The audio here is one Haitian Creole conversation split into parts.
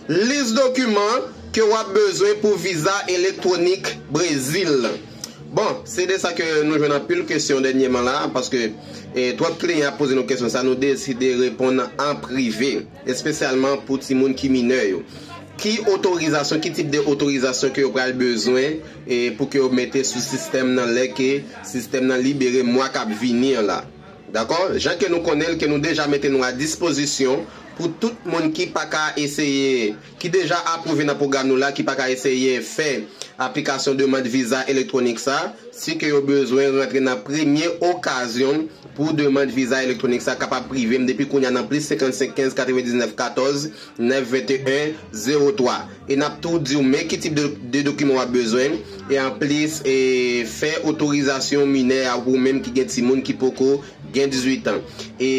Lis dokiman ke wap bezwen pou viza elektwonik Brezil. Bon, se de sa ke nou jwenn anpil kesyon dènyeman la, paske twòp kliyan ap poze nou kesyon sa, nou deside reponn an prive, espesyalman pou timoun ki minè yo. Ki otorizasyon, ki tip de otorizasyon ke yo pral bezwen pou ke yo mete sou sistèm nan lè ke sistèm nan libere mwa kap vini an la. Dakò, jan ke nou konnen l ke nou deja mete nou a dispozisyon pou tout moun ki pa ka eseye, ki deja apwouve nan pwogram nou la ki pa ka eseye fè aplikasyon demand viza elektwonik sa, si ke yo bezwen rantre nan premye okazyon pou demand viza elektwonik sa kapab prive m depi kounya nan plis 55 15 99 14 9 21 03. E nap tou diw men ki tip de dokiman wap bezwen e anplis e fè otorizasyon minè a ou menm ki gen timoun ki poko gen 18 ans e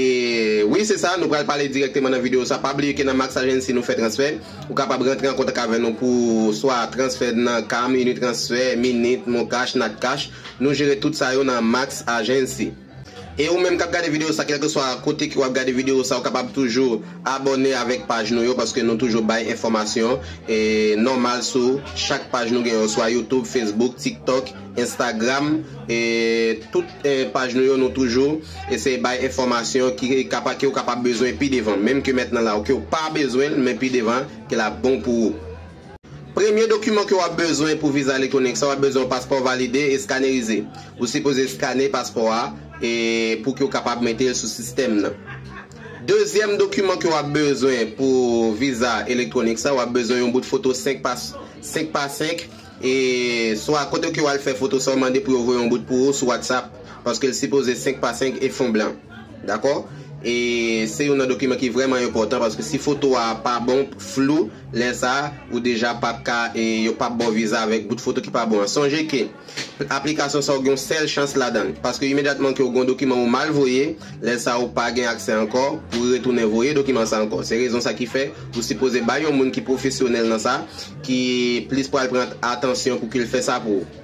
wi se sa nou pral pale dirèkteman nan video sa pa bliye ke nan Max Agency nou fè transfè ou kapab rantre an kontak avè nou pou swa transfè nan cam unitransfer minit moncash natcash nou jere tout sa yo nan Max Agency. E ou menm kap gade video sa kelkeswa kote ke wap gade video sa ou kapab toujou abòne avèk paj nou yo paske nou toujou bay enfòmasyon nòmal sou chak paj nou gen yo swa youtube, facebook, tiktok, instagram e tout paj nou yo nou toujou eseye bay enfòmasyon ki kapab ke ou kapab bezwen pi devan menm ke mètnan la ou ke ou pa bezwen men pi devan ke lap bon pou ou. Premye dokiman ke w ap bezwen pou viza elektwonik sa w ap bezwen yon paspò valide e skanerize. Ou sipoze skane paspò a e pou ke w kapab mete l sou sistèm nan. Dezyèm dokiman ke w ap bezwen pou viza elektwonik sa w ap bezwen yon bout foto 5 pa 5 pa 5 e swa kote ke w al fè foto sa w mande pou yo voye yon bout pou ou sou WhatsApp paske l sipoze 5 pa 5 e fon blan. Dakò? E se youn nan dokiman ki vrèman enpòtan paske si foto a pa bon, flou, lè sa a ou deja pap ka e yo pap ba w viza avèk bout foto ki pa bon an. Sonje ke aplikasyon sa w gen yon sèl chans ladan l paske imedyatman ke w gen yon dokiman ou mal voye, lè sa a ou pa gen aksè ankò pou retounen voye dokiman sa ankò. Se rezon sa ki fè ou sipoze bay yon moun ki pwofesyonèl nan sa ki plis pral pran atansyon pou ke l fè sa pou ou.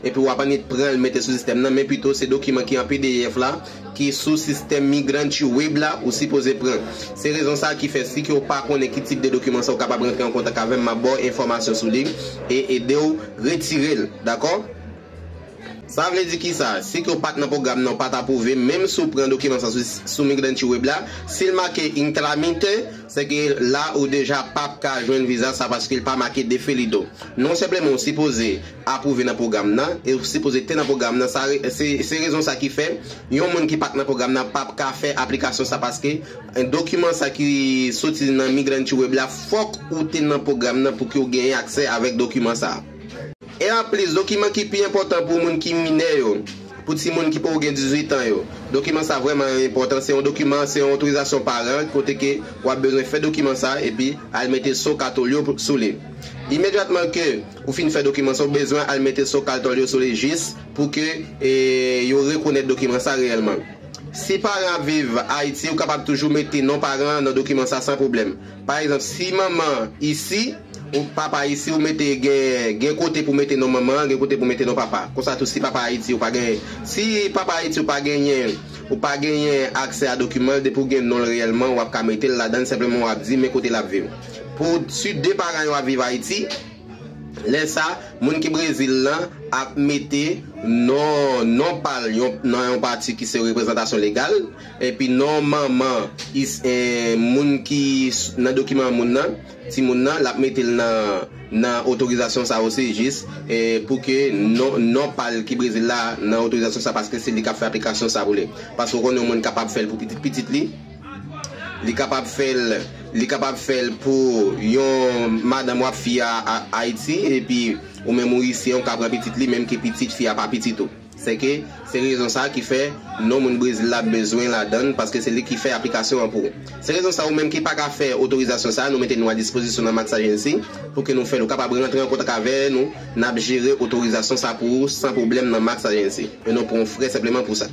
Epi wap annik pranl mete sou sistèm nan men pito se dokiman ki an pdf la ki sou sistèm Migrantue Web la ou sipoze pran. Se rezon sa ki fè si ke w pa konnen ki tip de dokiman sa ou kapab rantre an kontak avè m map ba w enfòmasyon sou li e ede w retire l dakò. Sa vle di kisa? Si ke w pat nan pwogram nan ou pat apwouve menm si w pran dokiman sa sou Migrantue Web la si l make Intramite se ke la ou deja pap ka jwenn viza sa paske l pa make Defelido. Non senpleman ou sipoze apwouve nan pwogram nan e yo sipoze te nan pwogram nan sa se rezon sa ki fè yon moun ki pat nan pwogram nan pap ka fè aplikasyon sa paske dokiman sa ki soti nan Migranty Web la fòk ou te nan pwogram nan pouki w genyen aksè avèk dokiman sa e anplis dokiman ki pi enpòtan pou moun ki minè yo pou ti moun ki poko gen 18 an yo dokiman sa vrèman enpòtan se yon dokiman se yon otorizasyon paran kote ke wap bezwen fè dokiman sa epi al mete so katolyo sou li imedyatman ke. Ou fin fè dokiman sa ou bezwen al mete so kaltòl yo sou li jis pou ke yo rekonèt dokiman sa reyèlman. Si paran ap viv Ayiti ou kapab toujou mete non paran an nan dokiman sa san pwoblèm. Pa egzanp si manman isi, papa isi ou mete gen gen kote pou mete non manman an gen kote pou mete non papa. Konsa tou si papa Ayiti ou pa gen si papa Ayiti ou pa genyen ou pa genyen aksè a dokiman l depi ou gen non l reyèlman ou ap ka mete l ladan l senpleman w ap di men kote l ap viv. Pou sud 2 paran yo ap viv Ayiti, lè sa moun ki Brezil lan ap mete non non pa l yon nan yon pati ki se reprezantasyon legal, epi non manman is moun ki nan dokiman moun nan, timoun nan, l ap mete l nan nan otorizasyon sa osi jis pou ke non non pa l ki Brezil la nan otorizasyon sa paske se li k ap fè aplikasyon sa pou li. Paske ou konnen yon moun kapab fè l pou pitit pitit li. Li kapab fèl li kapab fèl pou yon madanm wap fi a ayiti epi ou menm ou isyen ou ka pran pitit li menm ke pitit fi a pa pitit ou se ke se rezon sa ki fè non moun brezil la bezwen ladann paske se li ki fè aplikasyon an pou se rezon sa ou menm ki paka fè otorizasyon sa nou mete nou a dispozisyon nan max agency pou ke nou fèl ou kapab rantre an kontak avè nou nap jere otorizasyon sa pou ou san pwoblèm nan max agency e nou pran w frè senpleman pou sa.